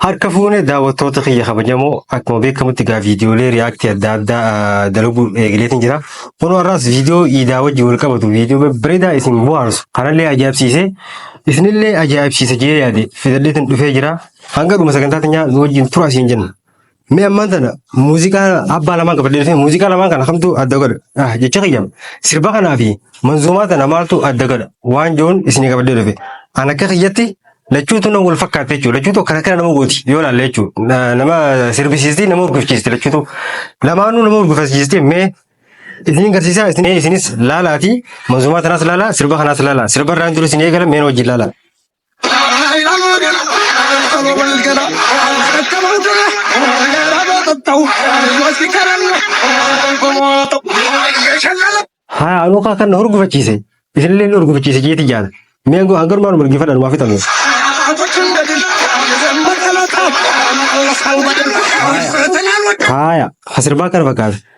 Harka fuune daawwattoota kiyya kabajamoo akkuma beekamutti egaa viidiyoolee riyaaktii adda addaa ah, dalaguu eegaleetiin jira. Kunoo har'aas viidiyoo iidaa wajjin wal qabatu viidiyoo babbareedaa isin bohaarsu kanallee ajaa'ibsiisee isinillee ajaa'ibsiisa jee yaade fidadheetiin dhufee jira. Hanga dhuma sagantaa teenyaa nu wajjin tura isin jenna. Mee ammaan tana muuziqaa abbaa lamaan qabadee dhufee muuziqaa lamaan kana kamtu adda godha? Ah, jecha kiyya sirba kanaa fi manzuumaa tana maaltu adda godha? Waan joon isinii qabadee dhufe. An akka kiyyatti lachuutu nama wal fakkaata jechuudha. Lachuutu akkana kana nama gooti yoo ilaalle jechuudha. Na- Nama sirbisiisti nama urgufchiisti lachuutu. Lamaanuu nama urgufchiisti mee isiniin garsiisaa isin- isinis laalaatii manzuumaa tanaas laalaa sirba kanaas laalaa. Sirba irraan jiru isin eegala mee na wajjin laalaa. Haa anuu kaa kan na horgufachiise. Isinillee na horgufachiise jeeti jaala. Mee angoo hangar maaluma dhaggeeffadha numaa fixame. Haaya asirbaa kana fakkaata.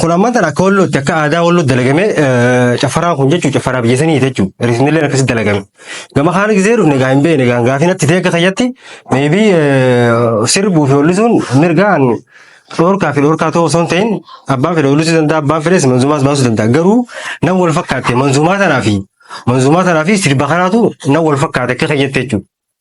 Kun ammaan tana akka wallootti akka aadaa walloo dalagame caffaraan kun jechuun caffaraa biyya sanii jechuun riisnillee akkasitti dalagame. Gama kaan gisee dhufne gaa hin beekne gaa gaafii natti ta'e akka kayyatti meebii sirbuu fi wallisuun mirgaan dhoorkaa fi dhoorkaa ta'uu osoo hin ta'in abbaan fedhe wallisuu danda'a abbaan fedhes manzumaas baasuu danda'a garuu nan wal fakkaatte manzumaa tanaa fi manzumaa tanaa fi sirba kanaatu nan wal fakkaate akka kayyatti jechuudha.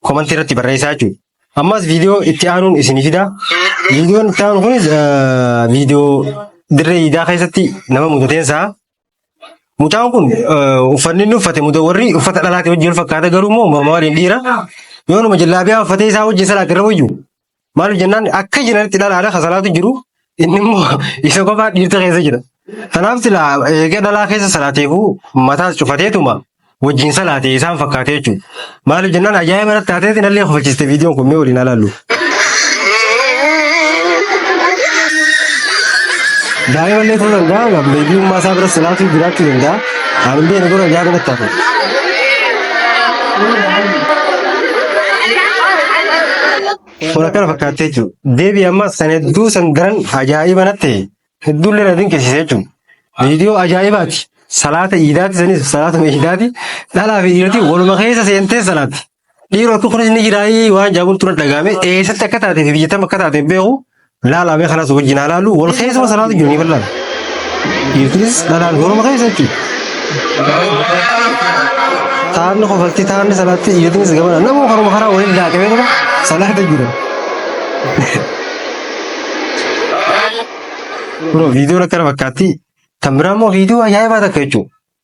komantii irratti barreessaa jechuudha. Ammas viidiyoo itti aanuun isinii fida. Viidiyoon itti aanu kunis eh, viidiyoo dirree iidaa keessatti nama mudateen sa'a. Mucaan kun eh, uffanni inni uffate muda warri uffata dhalaatii wajjin wal fakkaata garuu immoo morma waliin dhiira. Yoonuma jallaabiyaa uffatee isaa wajjin salaat irra wayyu. Maaliif jennaan akka jiranitti dhalaadha kan salaatu jiru inni immoo isa kophaa dhiirta keessa jira. Kanaaf silaa eega dhalaa keessa salaateefuu mataas cufateetuma wajjin salaatee isaan fakkaatee jechuudha. Maaliif jennaan ajaa'iba irratti taatee sinallee kofalchiste viidiyoon kun mee waliin alaallu. Daa'imallee ta'uu danda'a, beebiummaa isaa bira salaatuu jiraachuu danda'a. Abin bai nagoro ya gaba tafi. Fura kana fakkaatee jechuudha. Deebii ammas kan hedduu san garan ajaa'iba natti hedduu illee na dinqisiisee jechuudha. Viidiyoo ajaa'ibaati. Salaata iidaati sanis salaatuma iidaati. Dhalaa fi dhiirati waluma keessa seentee salaati. Dhiiroo akka kunis ni jiraayii waan jaabuun tura dhagaame eessatti akka taatee fi biyyatam akka taatee beeku laalaa mee kanas wajjin haa laalu wal keessuma salaatu jiru ni bal'aan. Dhiirtunis dhalaan goroma keessa jechuudha. Taanni kofalti taanni salaatti dhiirtunis gamana nama koroma karaa waliin laaqamee tura salaata jira. Bro viidiyoon akkana fakkaatti kan biraa immoo viidiyoo ajaa'ibaa takka jechuudha.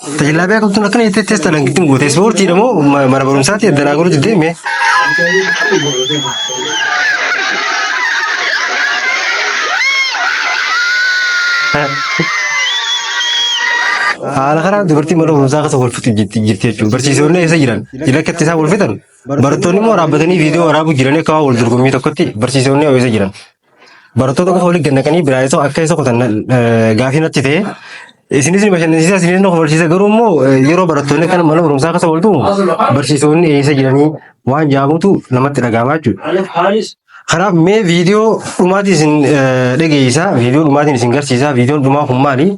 Tajaajilaa beekamtuun akkana jettee teessa dhalan gittin goote. Ispoortiidha moo ma- mana barumsaatti adda naa godhu jettee mee? Haala kanaan dubartiin mana barumsaa keessa wal fixu jirti jirti jechuudha. Barsiisonni eessa jiran? Jila akka itti isaan wal fixan. Barattoonni immoo dhaabbatanii viidiyoo waraabuu jiranii akka waan wal dorgommii tokkotti barsiisonni eessa jiran? Barattoota qofa waliin gannaqanii biraayisoo akka isa kutan eh, gaafii natti ta'e. Isinis ni bashannansiisa, isinis ni kofalchiisa. Garuu immoo eh, yeroo barattoonni kana mana barumsaa keessa wal tumu barsiisonni eessa jiranii waan jaamutu namatti dhaga'ama jechuudha. Kanaaf mee viidiyoo dhumaatiin isin eh, dhageessisa, viidiyoo dhumaatiin isin garsiisa, viidiyoon dhumaa kun maali?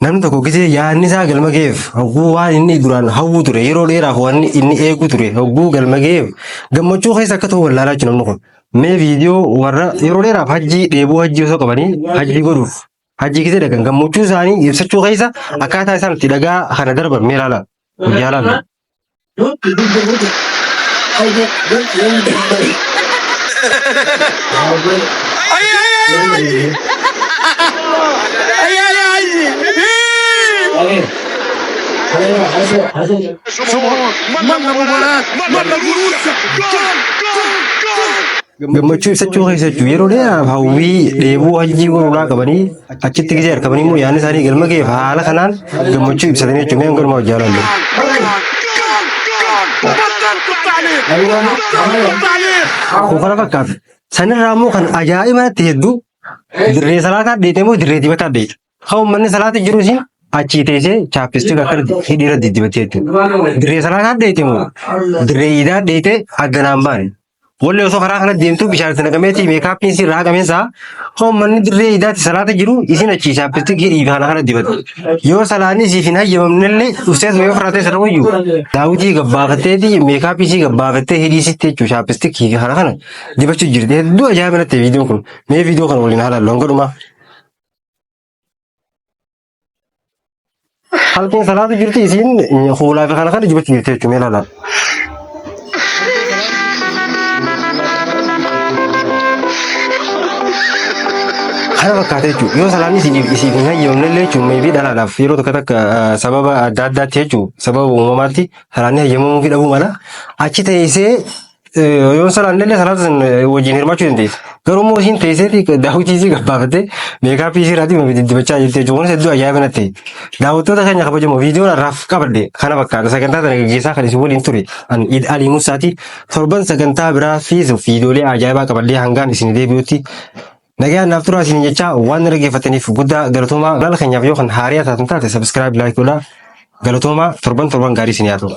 Namni tokko gisee yaadni isaa galma ga'eef hogguu waan inni duraan hawwu ture yeroo dheeraaf waan inni eegu ture hogguu galma ga'eef gammachuu keessa akka ta'u wallaalaa jiru namni kun. Mee viidiyoo warra yeroo dheeraaf hajjii dheebuu hajjii osoo qabanii hajjii godhuuf hajjii keessa dhaqan gammachuu isaanii ibsachuu keessa akkaataa isaan itti dhagaa kana darban mee ilaala guyyaa laala. Sumor, Manna Mubarak, Manna Gurursa, Gol, Gol, Gol. gammachuu ibsachuu keessa jechuun yeroo dheeraaf hawwii dheebuu hajjii warraa qabanii achitti gisee harkabanii immoo yaadni isaanii galma ga'eef haala kanaan gammachuu ibsatanii jechuun mee hangalumaa hojjaa laallu. Kun kana fakkaata. Sanirraa immoo kan ajaa'iba natti hedduu dirree salaataa dheedhee immoo dirree dibataa dheedhe. Kan uummanni salaata jiru siin achii teessee chaappistii akka hidhiira diddibattee jechuudha. Dirree salaataa dheeyte moo dirree iidaa dheeyte hagganaan baane. Wallee osoo karaa kana deemtu bishaan itti naqameeti meekaappiin siin irraa haqameen isaa kan uummanni dirree iidaatti salaata jiru isin achii chaappistii hidhii kana kana dibatte. Yoo salaanni siif hin hayyamamnellee dhuftees yoo firaatee sana wayyu daawwitii gabbaafatteeti meekaappii sii gabbaafattee hidhii sitti jechuudha chaappistii kana kana dibachuu jirti. Hedduu ajaa'iba natti viidiyoon kun mee viidiyoo kana waliin haalaan loon godhumaa. Halkan salaatu jirti isiin fuulaa fi kana kana jibachuu jirti jechuun ilaala. Kana fakkaata jechuudha. Yoo salaanni isiif isiif hin hayyamne illee jechuun meebii dhalaadhaaf yeroo tokko takka ah, sababa adda addaatti jechuudha. Sababa uumamaatti salaanni hayyamamuu fi dhabuu mala. Achi teessee Yoon salaannellee salaata san wajjin hirmaachuu dandeessa. Garuu immoo isiin teesseeti daawwitii isii gabbaafattee meekaappii isii irraa dhimma diddibachaa jirti jechuun kunis hedduu ajaa'iba natti. Daawwattoota keenya kabajamoo viidiyoon har'aaf qabadde kana fakkaata sagantaa sana gaggeessaa kan isin waliin ture an Iid Alii Musaati. Torban sagantaa biraa fi viidiyoolee ajaa'ibaa qabadhee hangaan isin deebi'utti Nagaan naaf turaa isin jechaa waan na dhaggeeffataniif guddaa galatoomaa. Laala keenyaaf yoo kan haariyaa taatan taate sabiskiraayib laayik godhaa. Galatoomaa torban torban gaarii isin yaa ta'u.